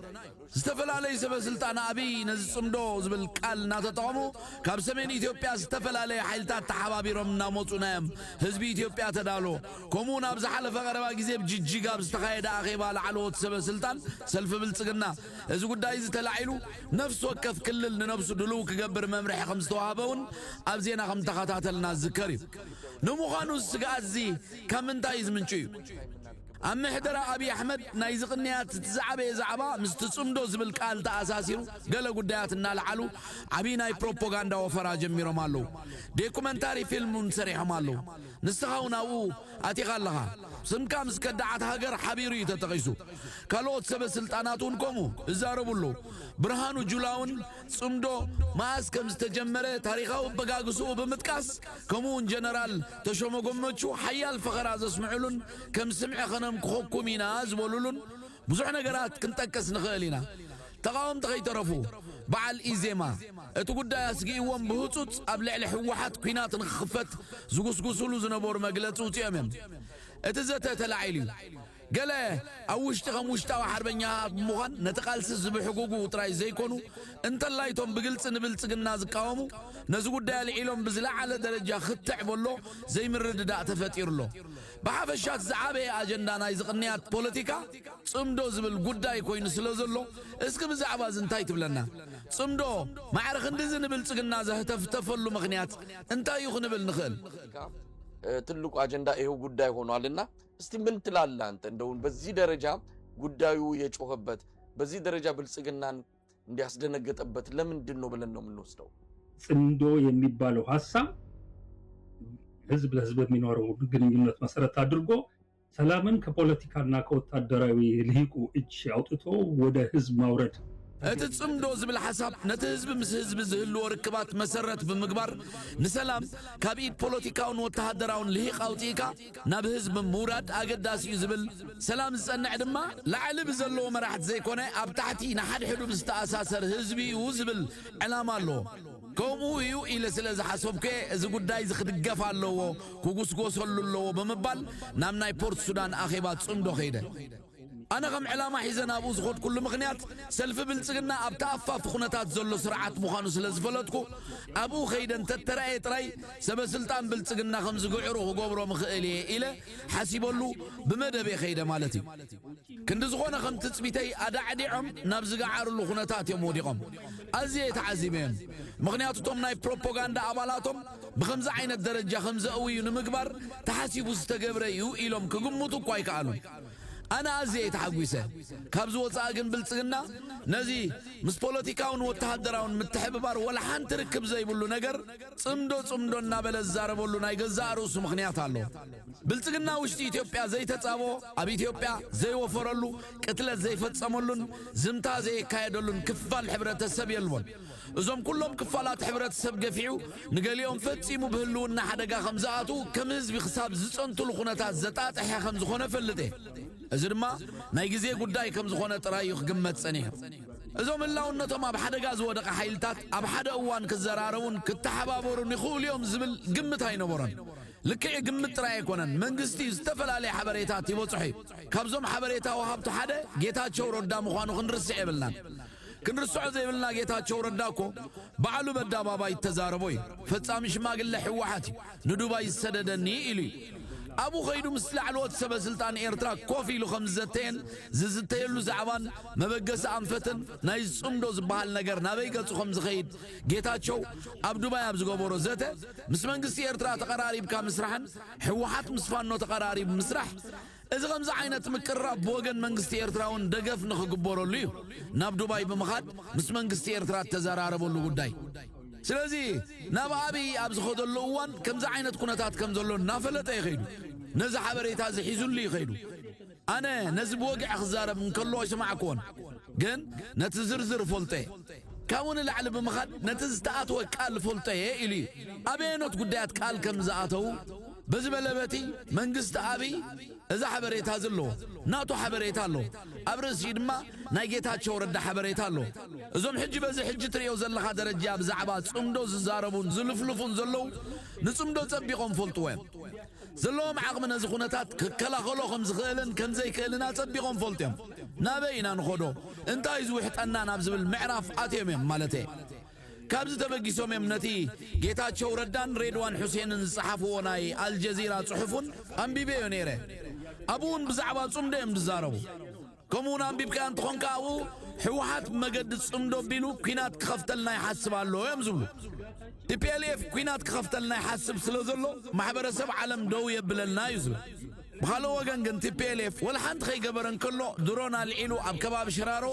ዝተፈላለዩ ሰበስልጣን ኣብይ ነዚ ፅምዶ ዝብል ቃል እናተጠቐሙ ካብ ሰሜን ኢትዮጵያ ዝተፈላለዩ ሓይልታት ተሓባቢሮም እናመፁና እዮም ህዝቢ ኢትዮጵያ ተዳሎ ከምኡ እውን ኣብ ዝሓለፈ ቀረባ ግዜ ብ ጅጅጋ ኣብ ዝተኻየደ ኣኼባ ላዕለዎት ሰበስልጣን ሰልፊ ብልፅግና እዚ ጉዳይ እዚ ተላዒሉ ነፍሲ ወከፍ ክልል ንነብሱ ድልው ክገብር መምርሒ ከምዝተዋህበ እውን ኣብ ዜና ከምተኸታተልና ዝዝከር እዩ ንምዃኑ እዚ ስግኣት እዚ ካብ ምንታይ እዩ ዝምንጩ እዩ? ኣብ ምሕደራ ኣብይ ኣሕመድ ናይዚ ቅንያት እቲ ዝዓበየ ዛዕባ ምስቲ ፅምዶ ዝብል ቃል ተኣሳሲሩ ገለ ጉዳያት እናልዓሉ ዓብይ ናይ ፕሮፖጋንዳ ወፈራ ጀሚሮም ኣለዉ። ዴኩመንታሪ ፊልም እውን ሰሪሖም ኣለዉ። ንስኻ እውን ኣብኡ ኣቲኻ ኣለኻ። ስምካ ምስ ከዳዓት ሃገር ሓቢሩ እዩ ተጠቒሱ። ካልኦት ሰበ ስልጣናት እውን ከምኡ እዛረቡ ኣለዉ። ብርሃኑ ጁላ እውን ፅምዶ መኣስ ከም ዝተጀመረ ታሪኻዊ ኣበጋግስኡ ብምጥቃስ ከምኡ እውን ጀነራል ተሾመ ጎመቹ ሓያል ፈኸራ ዘስምዕሉን ከም ስምዒ ከነምክኸኩም ኢና ዝበሉሉን ብዙሕ ነገራት ክንጠቅስ ንኽእል ኢና። ተቓወምቲ ከይተረፉ በዓል ኢዜማ እቲ ጉዳይ ኣስጊእዎም ብህፁፅ ኣብ ልዕሊ ህወሓት ኲናት ንክኽፈት ዝጉስጉሱሉ ዝነበሩ መግለፂ ኣውፂኦም እዮም። እቲ ዘተ ተላዒሉ እዩ። ገለ ኣብ ውሽጢ ከም ውሽጣዊ ሓርበኛ ብምዃን ነቲ ቃልሲ ዝብሕጉጉ ጥራይ ዘይኮኑ እንተላይ እቶም ብግልፂ ንብልፅግና ዝቃወሙ ነዚ ጉዳይ ኣልዒሎም ብዝለዓለ ደረጃ ክትዕ በሎ ዘይምርድዳእ ተፈጢሩ ኣሎ። ብሓፈሻ እቲ ዝዓበየ ኣጀንዳ ናይዚ ቅንያት ፖለቲካ ጽምዶ ዝብል ጉዳይ ኮይኑ ስለ ዘሎ እስኪ ብዛዕባ እዚ እንታይ ትብለና? ጽምዶ ማዕረ ክንድዚ ንብልጽግና ዘህተፍተፈሉ ምኽንያት እንታይ እዩ ክንብል ንኽእል? ትልቁ አጀንዳ ይሄው ጉዳይ ሆኗል እና እስቲ ምን ትላለህ አንተ? እንደውን በዚህ ደረጃ ጉዳዩ የጮኸበት በዚህ ደረጃ ብልጽግናን እንዲያስደነገጠበት ለምንድን ነው ብለን ነው የምንወስደው። ጽምዶ የሚባለው ሀሳብ ህዝብ ለህዝብ የሚኖረው ግንኙነት መሰረት አድርጎ ሰላምን ከፖለቲካና ከወታደራዊ ልሂቁ እጅ አውጥቶ ወደ ህዝብ ማውረድ እቲ ጽምዶ ዝብል ሓሳብ ነቲ ህዝቢ ምስ ህዝቢ ዝህልዎ ርክባት መሰረት ብምግባር ንሰላም ካብ ኢድ ፖለቲካውን ወተሃደራውን ልሂቕ ኣውፂእካ ናብ ህዝቢ ምውራድ ኣገዳሲ እዩ ዝብል ሰላም ዝጸንዕ ድማ ላዕሊ ብዘለዉ መራሕቲ ዘይኮነ ኣብ ታሕቲ ንሓድሕዱ ብዝተኣሳሰር ህዝቢ እዩ ዝብል ዕላማ ኣለዎ። ከምኡ እዩ ኢለ ስለ ዝሓሰብኩ እየ እዚ ጉዳይ እዚ ክድገፍ ኣለዎ፣ ክጉስጎሰሉ ኣለዎ ብምባል ናብ ናይ ፖርት ሱዳን ኣኼባ ጽምዶ ከይደ። ኣነ ከም ዕላማ ሒዘ ናብኡ ዝኸድኩሉ ምኽንያት ሰልፊ ብልጽግና ኣብ ተኣፋፊ ኩነታት ዘሎ ስርዓት ምዃኑ ስለ ዝፈለጥኩ ኣብኡ ከይደ እንተተራእየ ጥራይ ሰበ ስልጣን ብልጽግና ከም ዝግዕሩ ክገብሮም እኽእል እየ ኢለ ሓሲበሉ ብመደበይ ከይደ ማለት እዩ። ክንዲ ዝኾነ ከም ትጽቢተይ ኣዳዕዲዖም ናብ ዝገዓርሉ ኩነታት እዮም ወዲቖም። ኣዝየ ተዓዚበዮም። ምኽንያቱ እቶም ናይ ፕሮፖጋንዳ ኣባላቶም ብኸምዚ ዓይነት ደረጃ ከም ዘእውዩ ንምግባር ተሓሲቡ ዝተገብረ እዩ ኢሎም ክግምቱ እኳ ኣይከኣሉን። ኣነ ኣዝየ እየ ተሓጒሰ። ካብዚ ወጻኢ ግን ብልጽግና ነዚ ምስ ፖለቲካውን ወተሃደራውን ምትሕብባር ወላ ሓንቲ ርክብ ዘይብሉ ነገር ጽምዶ ጽምዶ እናበለ ዝዛረበሉ ናይ ገዛእ ርእሱ ምኽንያት ኣለዎ። ብልጽግና ውሽጢ ኢትዮጵያ ዘይተጻብኦ፣ ኣብ ኢትዮጵያ ዘይወፈረሉ፣ ቅትለት ዘይፈጸመሉን ዝምታ ዘየካየደሉን ክፋል ሕብረተሰብ የልቦን። እዞም ኩሎም ክፋላት ሕብረተሰብ ገፊዑ ንገሊኦም ፈጺሙ ብህልውና ሓደጋ ከም ዝኣትዉ ከም ህዝቢ ክሳብ ዝጸንትሉ ኩነታት ዘጣጥሐ ከም ዝኾነ እፈልጥ እየ። እዚ ድማ ናይ ግዜ ጉዳይ ከም ዝኾነ ጥራይ እዩ ክግመት ጸኒሑ። እዞም ህላውነቶም ኣብ ሓደጋ ዝወደቐ ሓይልታት ኣብ ሓደ እዋን ክዘራረቡን ክተሓባበሩን ይኽእሉ እዮም ዝብል ግምት ኣይነበሮን። ልክዕ ግምት ጥራይ ኣይኮነን፣ መንግስቲ ዝተፈላለየ ሓበሬታት ይበጽሖ እዩ። ካብዞም ሓበሬታ ወሃብቱ ሓደ ጌታቸው ረዳ ምዃኑ ክንርስዕ የብልናን። ክንርስዖ ዘይብልና ጌታቸው ረዳ እኮ ባዕሉ በዳባባይ እተዛረቦ እዩ ፈጻሚ ሽማግለ ሕወሓት እዩ ንዱባይ ዝሰደደኒ ኢሉ እዩ ኣብኡ ከይዱ ምስ ላዕለዎት ሰበ ስልጣን ኤርትራ ኮፍ ኢሉ ከም ዝዘተየን ዝዝተየሉ ዛዕባን መበገሲ ኣንፈትን ናይ ዝጽምዶ ዝበሃል ነገር ናበይ ገጹ ከም ዝኸይድ ጌታቸው ኣብ ዱባይ ኣብ ዝገበሮ ዘተ ምስ መንግስቲ ኤርትራ ተቐራሪብካ ምስራሕን ሕወሓት ምስ ፋኖ ተቐራሪቡ ምስራሕ እዚ ከምዚ ዓይነት ምቅርራብ ብወገን መንግስቲ ኤርትራውን ደገፍ ንክግበረሉ እዩ ናብ ዱባይ ብምኻድ ምስ መንግስቲ ኤርትራ እተዘራረበሉ ጉዳይ። ስለዚ ናብ ኣብይ ኣብ ዝኸደሉ እዋን ከምዚ ዓይነት ኩነታት ከም ዘሎ እናፈለጠ እዩ ከይዱ። ነዚ ሓበሬታ እዚ ሒዙሉ እዩ ከይዱ። ኣነ ነዚ ብወግዒ ክዛረብ እንከሎ ኣይሰማዕክዎን፣ ግን ነቲ ዝርዝር እፈልጦ እየ። ካብኡ ንላዕሊ ብምኻድ ነቲ ዝተኣትወ ቃል እፈልጦ እየ ኢሉ እዩ። ኣበየኖት ጉዳያት ቃል ከም ዝኣተው፣ በዚ በለ በቲ መንግስቲ ኣብይ እዚ ሓበሬታ እዚ ኣለዎ። ናቱ ሓበሬታ ኣሎ። ኣብ ርእሲኡ ድማ ናይ ጌታቸው ረዳ ሓበሬታ ኣሎ። እዞም ሕጂ በዚ ሕጂ ትርእዮ ዘለኻ ደረጃ ብዛዕባ ጽምዶ ዝዛረቡን ዝልፍልፉን ዘለዉ ንጽምዶ ጸቢቖም ፈልጥዎ እዮም። ዘለዎም ዓቕሚ ነዚ ኩነታት ክከላኸሎ ከም ዝኽእልን ከም ዘይክእልን ኣጸቢቖም ፈልጡ እዮም። ናበይ ኢና ንኸዶ እንታይ እዩ ዝውሕጠና ናብ ዝብል ምዕራፍ ኣትዮም እዮም ማለተየ። ካብዚ ተበጊሶም እዮም ነቲ ጌታቸው ረዳን ሬድዋን ሑሴንን ዝጸሓፍዎ ናይ ኣልጀዚራ ጽሑፍ እውን ኣንቢበዮ ነይረ። ኣብኡ እውን ብዛዕባ ጽምዶ እዮም ዝዛረቡ። ከምኡ እውን ኣንቢብካዮ እንተኾንካ ኣብኡ ህወሓት ብመገዲ ጽምዶ ኣቢሉ ኲናት ክኸፍተልና ይሓስብ ኣሎ እዮም ዝብሉ። ቲፒኤልኤፍ ኲናት ክኸፍተልና ይሓስብ ስለ ዘሎ ማሕበረሰብ ዓለም ደው የብለልና እዩ ዝብል። ብኻልእ ወገን ግን tplf ወላ ሓንቲ ከይገበረ እንከሎ ድሮን ኣልዒሉ ኣብ ከባቢ ሽራሮ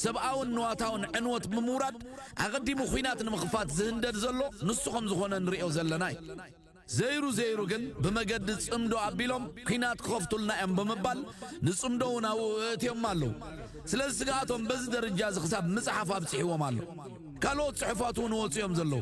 ሰብኣውን ንዋታውን ዕንወት ብምውራድ ኣቐዲሙ ኹናት ንምኽፋት ዝህንደድ ዘሎ ንሱ ከምዝኾነ ንሪኦ ዘለና እዩ። ዘይሩ ዘይሩ ግን ብመገዲ ፅምዶ ኣቢሎም ኲናት ክኸፍቱልና እዮም ብምባል ንፅምዶ እውን ኣብኡ እእትዮማ ኣለዉ። ስለዚ ስግኣቶም በዚ ደርጃ እዚ ክሳብ ምፅሓፍ ኣብፂሕዎም ኣሎ። ካልኦት ፅሑፋት እውን ወፅዮም ዘለዉ።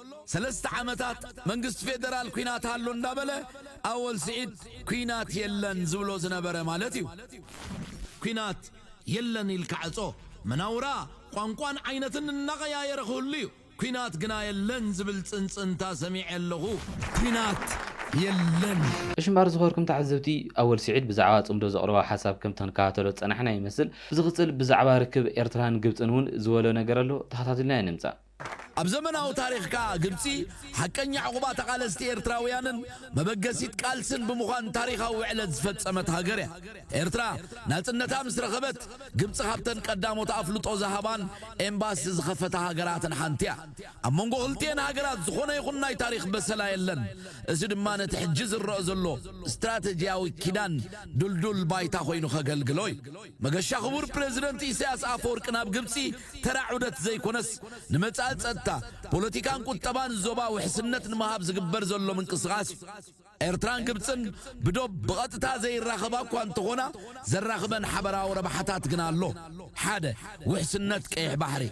ሰለስተ ዓመታት መንግስቲ ፌደራል ኲናት ኣሎ እንዳበለ ኣወል ስዒድ ኲናት የለን ዝብሎ ዝነበረ ማለት እዩ። ኲናት የለን ኢልካ ዕጾ፣ መናውራ፣ ቋንቋን ዓይነትን እናቐያየረ ክህሉ እዩ። ኲናት ግና የለን ዝብል ጽንጽንታ ሰሚዐ ኣለኹ። ኲናት የለን! እሺ እምበኣር ዝኸበርኩም ተዓዘብቲ ኣወል ስዒድ ብዛዕባ ጽምዶ ዘቕረቦ ሓሳብ ከም ተንከታተሎ ዝጸናሕና ይመስል። ብዝቕጽል ብዛዕባ ርክብ ኤርትራን ግብጽን ውን ዝበሎ ነገር ኣሎ ተኸታቲልና ኢና ንምጻእ። ኣብ ዘመናዊ ታሪኽ ከኣ ግብጺ ሓቀኛ ዑቕባ ተቓለስቲ ኤርትራውያንን መበገሲት ቃልስን ብምዃን ታሪኻዊ ውዕለት ዝፈጸመት ሃገር እያ። ኤርትራ ናጽነታ ምስ ረኸበት ግብጺ ካብተን ቀዳሞት ኣፍልጦ ዝሃባን ኤምባሲ ዝኸፈታ ሃገራትን ሓንቲ እያ። ኣብ መንጎ ክልቲኤን ሃገራት ዝኾነ ይኹን ናይ ታሪኽ በሰላ የለን። እዚ ድማ ነቲ ሕጂ ዝረእ ዘሎ ስትራተጂያዊ ኪዳን ድልዱል ባይታ ኮይኑ ከገልግሎ እዩ። መገሻ ክቡር ፕረዚደንት ኢሳያስ ኣፈወርቂ ናብ ግብጺ ተራ ዑደት ዘይኮነስ ንመጻኢ ጸጥታ፣ ፖለቲካን ቁጠባን ዞባ ውሕስነት ንምሃብ ዝግበር ዘሎ ምንቅስቓስ እዩ። ኤርትራን ግብጽን ብዶብ ብቐጥታ ዘይራኸባ እኳ እንተኾና ዘራኽበን ሓበራዊ ረብሓታት ግና ኣሎ። ሓደ፣ ውሕስነት ቀይሕ ባሕሪ።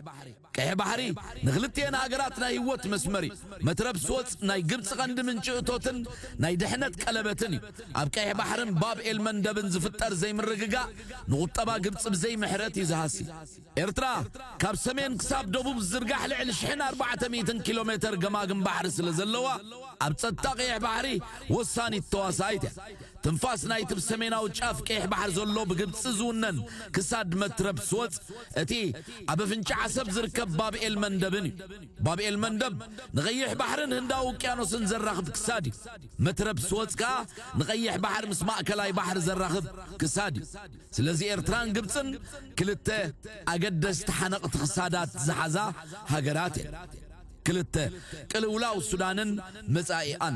ቀይሕ ባሕሪ ንክልቲኤን ሃገራት ናይ ህይወት መስመር እዩ። መትረብ ስወጽ ናይ ግብጺ ቀንዲ ምንጪ እቶትን ናይ ድሕነት ቀለበትን እዩ። ኣብ ቀይሕ ባሕርን ባብ ኤልመንደብን ዝፍጠር ዘይምርግጋእ ንቁጠባ ግብጺ ብዘይ ምሕረት እዩ ዝሃሲ። ኤርትራ ካብ ሰሜን ክሳብ ደቡብ ዝዝርጋሕ ልዕሊ ሽሕን ኣርባዕተ ሚእትን ኪሎሜተር ገማግም ባሕሪ ስለዘለዋ ኣብ ጸጥታ ቀይሕ ባሕሪ ወሳኒት ተዋሳኢት እያ። ትንፋስ ናይቲ ብ ሰሜናዊ ጫፍ ቀይሕ ባሕሪ ዘሎ ብግብጺ ዝውነን ክሳድ መትረብ ስወጽ እቲ ኣብ ኣፍንጫ ዓሰብ ዝርከብ ባብ ኤልመንደብን እዩ። ባብ ኤልመንደብ ንቀይሕ ባሕርን ህንዳዊ ውቅያኖስን ዘራኽብ ክሳድ እዩ። መትረብ ስወጽ ከኣ ንቀይሕ ባሕሪ ምስ ማእከላይ ባሕሪ ዘራኽብ ክሳድ እዩ። ስለዚ ኤርትራን ግብጽን ክልተ ኣገደስቲ ሓነቕቲ ክሳዳት ዝሓዛ ሃገራት እየን። ክልተ፣ ቅልውላው ሱዳንን መጻኢኣን።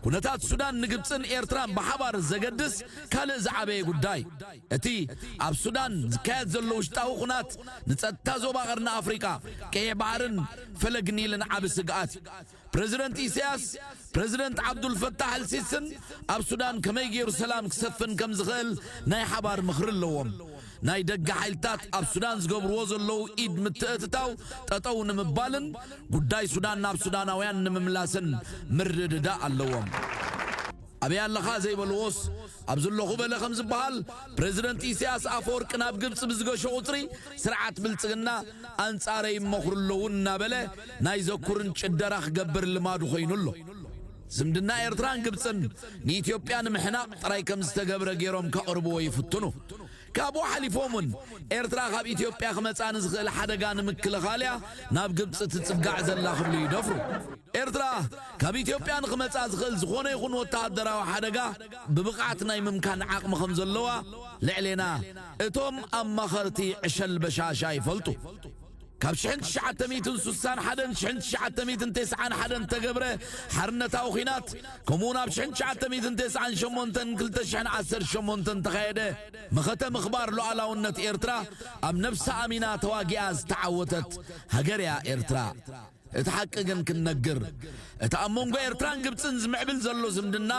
ኩነታት ሱዳን ንግብጽን ኤርትራን ብሓባር ዘገድስ ካልእ ዝዓበየ ጉዳይ፣ እቲ ኣብ ሱዳን ዝካየድ ዘሎ ውሽጣዊ ኩናት ንጸጥታ ዞባ ቀርኒ ኣፍሪቃ፣ ቀይሕ ባሕርን ፈለግ ኒልን ዓቢ ስግኣት እዩ። ፕረዚደንት ኢሳያስ፣ ፕረዚደንት ዓብዱልፈታሕ ኣልሲስን ኣብ ሱዳን ከመይ ገይሩ ሰላም ክሰፍን ከምዝኽእል ናይ ሓባር ምኽሪ ኣለዎም። ናይ ደገ ሓይልታት ኣብ ሱዳን ዝገብርዎ ዘለዉ ኢድ ምትእትታው ጠጠው ንምባልን ጉዳይ ሱዳን ናብ ሱዳናውያን ንምምላስን ምርድዳእ ኣለዎም። ኣበይ ኣለኻ ዘይበልዎስ ኣብዚ ኣለኹ በለ ከም ዝበሃል ፕረዚደንት ኢሳያስ ኣፈወርቂ ናብ ግብጺ ብዝገሾ ቁጽሪ ስርዓት ብልጽግና ኣንጻረይ ይመኽሩ ኣለዉ እናበለ ናይ ዘኩርን ጭደራ ክገብር ልማዱ ኮይኑ ኣሎ። ዝምድና ኤርትራን ግብጽን ንኢትዮጵያ ንምሕናቕ ጥራይ ከም ዝተገብረ ገይሮም ከቕርብዎ ይፍትኑ። ካብኡ ሓሊፎም እውን ኤርትራ ካብ ኢትዮጵያ ክመጻ ንዝኽእል ሓደጋ ንምክልኻል እያ ናብ ግብጺ ትጽጋዕ ዘላ ክብሉ ይደፍሩ። ኤርትራ ካብ ኢትዮጵያ ንኽመጻ ዝኽእል ዝኾነ ይኹን ወተሃደራዊ ሓደጋ ብብቕዓት ናይ ምምካን ዓቕሚ ከም ዘለዋ ልዕሌና እቶም ኣማኸርቲ ዕሸል በሻሻ ይፈልጡ። ካብ ሽሕን ትሽዓተ ሚእትን ሱሳን ሓደን ሽሕን ትሽዓተ ሚእትን ቴስዓን ሓደን እተገብረ ሓርነታዊ ኲናት ከምኡውን ኣብ ሽሕን ትሽዓተ ሚእትን ቴስዓን ሸሞንተን ክልተ ሽሕን ዓሰርተ ሸሞንተን እተኻየደ መኸተ ምኽባር ሉዓላውነት ኤርትራ ኣብ ነብሳ ኣሚና ተዋጊኣ ዝተዓወተት ሃገር እያ ኤርትራ። እቲ ሓቂ ግን ክንነግር እቲ ኣብ መንጎ ኤርትራን ግብጽን ዝምዕብል ዘሎ ዝምድና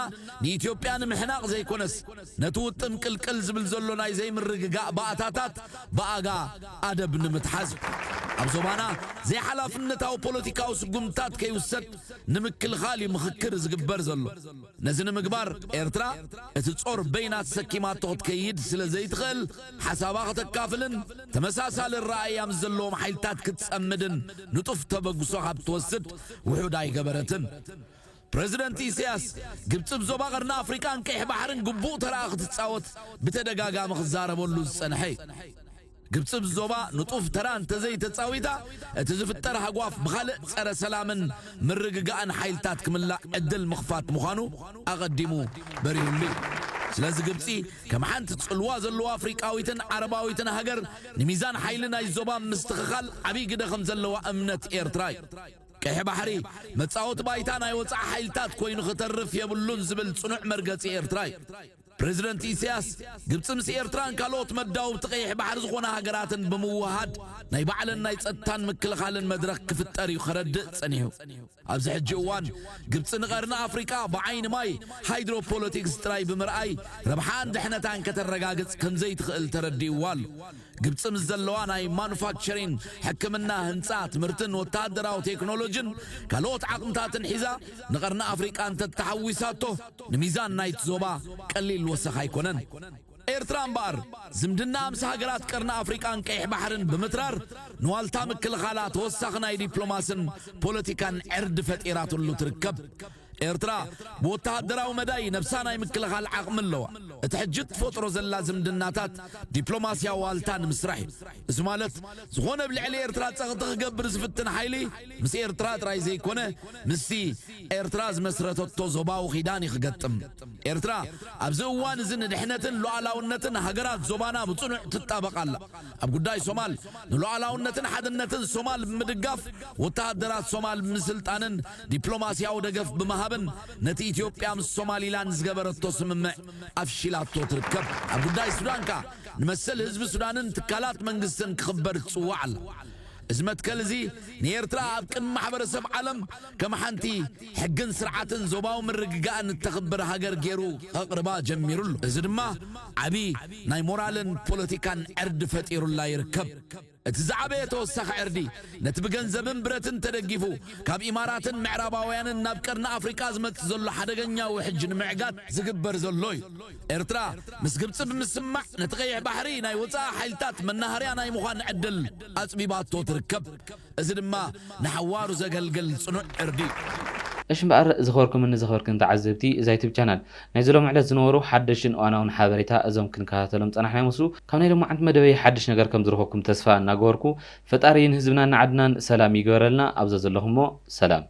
ንኢትዮጵያ ንምሕናቕ ዘይኮነስ ነቲ ውጥም ቅልቅል ዝብል ዘሎ ናይ ዘይምርግጋእ ባእታታት ብኣጋ ኣደብ ንምትሓዝ እዩ። ኣብ ዞባና ዘይሓላፍነታዊ ፖለቲካዊ ስጉምትታት ከይውሰድ ንምክልኻል እዩ ምኽክር ዝግበር ዘሎ። ነዚ ንምግባር ኤርትራ እቲ ጾር በይና ተሰኪማቶ ክትከይድ ስለ ዘይትኽእል ሓሳባ ከተካፍልን ተመሳሳሊ ኣረኣእያ ምስ ዘለዎም ሓይልታት ክትጸምድን ንጡፍ ተበግሶ ካብ ትወስድ ውሑድ ኣይገበረትን። ፕረዚደንት ኢሳያስ፣ ግብጺ ብ ዞባ ቀርኒ ኣፍሪቃን ቀይሕ ባሕርን ግቡእ ተራኣ ክትጻወት ብተደጋጋሚ ክዛረበሉ ዝጸንሐ እዩ። ግብጺ ኣብ ዞባ ንጡፍ ተራ እንተዘይተጻዊታ፣ እቲ ዝፍጠር ሃጓፍ ብኻልእ ጸረ ሰላምን ምርግጋእን ሓይልታት ክምላእ ዕድል ምኽፋት ምዃኑ ኣቐዲሙ በሪሁሉ እዩ። ስለዚ ግብጺ ከም ሓንቲ ጽልዋ ዘለዋ ኣፍሪቃዊትን ዓረባዊትን ሃገር ንሚዛን ሓይሊ ናይ ዞባ ኣብ ምስትኽኻል ዓብይ ግደ ከምዘለዋ እምነት ኤርትራ እዩ። ቀይሕ ባሕሪ መጻወቲ ባይታ ናይ ወጻኢ ሓይልታት ኮይኑ ክተርፍ የብሉን ዝብል ጽኑዕ መርገጺ ኤርትራ እዩ። ፕረዚደንት ኢሳያስ፣ ግብጺ ምስ ኤርትራን ካልኦት መዳውብቲ ቀይሕ ባሕሪ ዝኾና ሃገራትን ብምውህሃድ ናይ ባዕለን ናይ ጸጥታን ምክልኻልን መድረኽ ክፍጠር እዩ ከረድእ ጸኒሑ። ኣብዚ ሕጂ እዋን ግብጺ ንቀርኒ ኣፍሪቃ ብዓይኒ ማይ ሃይድሮ ፖለቲክስ ጥራይ ብምርኣይ ረብሓኣን ድሕነታን ከተረጋግጽ ከምዘይትኽእል ተረዲእዋ ኣሎ። ግብጺ ምስ ዘለዋ ናይ ማኑፋክቸሪን፣ ሕክምና፣ ህንጻ፣ ትምህርትን ወተሃደራዊ ቴክኖሎጂን ካልኦት ዓቕምታትን ሒዛ ንቀርኒ ኣፍሪቃ እንተተሓዊሳቶ፣ ንሚዛን ናይቲ ዞባ ቀሊል ወሰኽ ኣይኮነን። ኤርትራ እምበኣር፣ ዝምድናኣ ምስ ሃገራት ቀርኒ ኣፍሪቃን ቀይሕ ባሕርን ብምትራር፣ ንዋልታ ምክልኻላ ተወሳኺ ናይ ዲፕሎማስን ፖለቲካን ዕርዲ ፈጢራትሉ ትርከብ። ኤርትራ፣ ብወተሃደራዊ መዳይ ነብሳ ናይ ምክልኻል ዓቕሚ ኣለዋ። እቲ ሕጂ እትፈጥሮ ዘላ ዝምድናታት፣ ዲፕሎማስያዊ ዋልታ ንምስራሕ እዩ። እዚ ማለት፣ ዝኾነ ኣብ ልዕሊ ኤርትራ ጸቕጢ ክገብር ዝፍትን ሓይሊ፣ ምስ ኤርትራ ጥራይ ዘይኮነ ምስቲ ኤርትራ ዝመስረተቶ ዞባዊ ኪዳን እዩ ክገጥም። ኤርትራ ኣብዚ እዋን እዚ ንድሕነትን ሉኣላውነትን ሃገራት ዞባና ብጽኑዕ ትጣበቕ ኣላ። ኣብ ጉዳይ ሶማል ንሉኣላውነትን ሓድነትን ሶማል ብምድጋፍ ወተሃደራት ሶማል ብምስልጣንን ዲፕሎማስያዊ ደገፍ ብምሃብን ነቲ ኢትዮጵያ ምስ ሶማሊላንድ ዝገበረቶ ስምምዕ ኣፍሺላቶ ትርከብ። ኣብ ጉዳይ ሱዳን ከኣ ንመሰል ህዝቢ ሱዳንን ትካላት መንግስትን ክኽበር ትጽዋዕ ኣላ። እዚ መትከል እዚ ንኤርትራ ኣብ ቅድሚ ማሕበረሰብ ዓለም ከም ሓንቲ ሕግን ስርዓትን ዞባዊ ምርግጋእን እተኽብር ሃገር ገይሩ ከቕርባ ጀሚሩ ኣሎ። እዚ ድማ ዓቢ ናይ ሞራልን ፖለቲካን ዕርዲ ፈጢሩላ ይርከብ። እቲ ዝዓበየ ተወሳኺ ዕርዲ ነቲ ብገንዘብን ብረትን ተደጊፉ ካብ ኢማራትን ምዕራባውያንን ናብ ቀርኒ ኣፍሪቃ ዝመጽእ ዘሎ ሓደገኛ ውሕጅ ንምዕጋት ዝግበር ዘሎ እዩ። ኤርትራ ምስ ግብጺ ብምስምማዕ ነቲ ቀይሕ ባሕሪ ናይ ወጻኢ ሓይልታት መናሃርያ ናይ ምዃን ዕድል ኣጽቢባቶ ትርከብ። እዚ ድማ ንሓዋሩ ዘገልግል ጽኑዕ ዕርዲ እዩ። እሽ እምበኣር ዝኸበርኩምን ዘኽበርክን ተዓዘብቲ እዛ ዩቱብ ቻናል፣ ናይዚ ሎሚ ዕለት ዝነበሩ ሓደሽትን እዋናውን ሓበሬታ እዞም ክንከታተሎም ዝጸናሕና ይመስሉ። ካብ ናይ ሎማዓንቲ መደበይ ሓድሽ ነገር ከም ዝረኸብኩም ተስፋ እናገበርኩ፣ ፈጣሪ ንህዝብናን ንዓድናን ሰላም ይግበረልና። ኣብ ዘዘለኹሞ ሰላም።